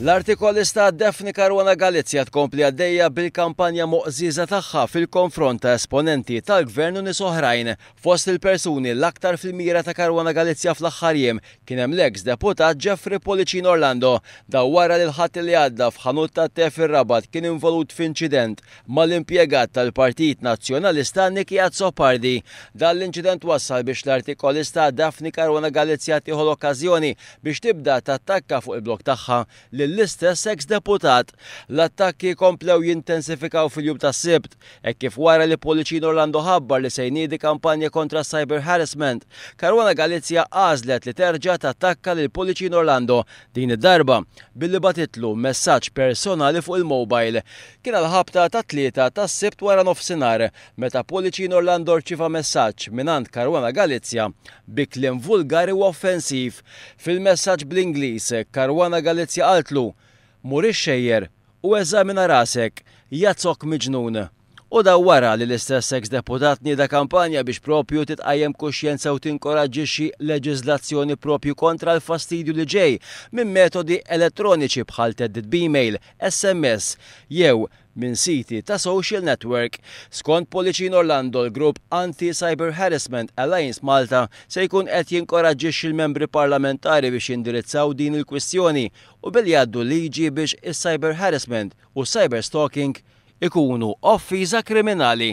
L-artikolista Daphne Caruana Galizia tkompli għaddejja bil-kampanja moqżieża tagħha fil-konfront ta' esponenti tal-Gvern u nies oħrajn. Fost il-persuni l-aktar fil-mira ta' Caruana Galizia fl-aħħar jiem kien hemm l-eks deputat Jeffrey Pullicino Orlando. Dan wara li l-Ħadd li għadda f'ħanut tat-te fir-Rabat kien involut f'inċident mal-impjegat tal-Partit Nazzjonalista Nicky Azzopardi. Dan l-inċident wassal biex l-artikolista Daphne Caruana Galizia tieħu l-okkażjoni biex tibda tattakka fuq il-blog tagħha lill-istess eks deputat. L-attakki komplew jintensifikaw fil-jum tas-Sibt, hekk kif wara li Pullicino Orlando ħabbar li se jniedi kampanja kontra s-cyber harassment, Caruana Galizia għażlet li terġa' tattakka lil Pullicino Orlando, din id-darba billi bagħtitlu messaġġ personali fuq il-mobile. Kien għall-ħabta tat-Tlieta tas-Sibt waranofsinhar meta Pulicin Orlando rċieva messaġġ mingħand Caruana Galizia bi kliem vulgari u offensiv. Fil-messaġġ bl-Ingliż, Caruana Galizia qaltlu, Mur ixxejjer u eżamina rasek, jazok miġnun! U dan wara li l-istess eks deputat nieda kampanja biex proprju titqajjem kuxjenza u tinkoraġġixxi leġiżlazzjoni proprju kontra l-fastidju li ġej minn metodi elettroniċi bħal theddid b'email, SMS jew minn siti ta' social network. Skont Policin Orlando l-grupp Anti Cyber Harassment Alliance Malta se jkun qed jinkoraġġixxi l-membri parlamentari biex jindirizzaw din il-kwistjoni u billi jgħaddu liġi biex is-cyber harassment u s-cyber stalking ikunu offiża kriminali.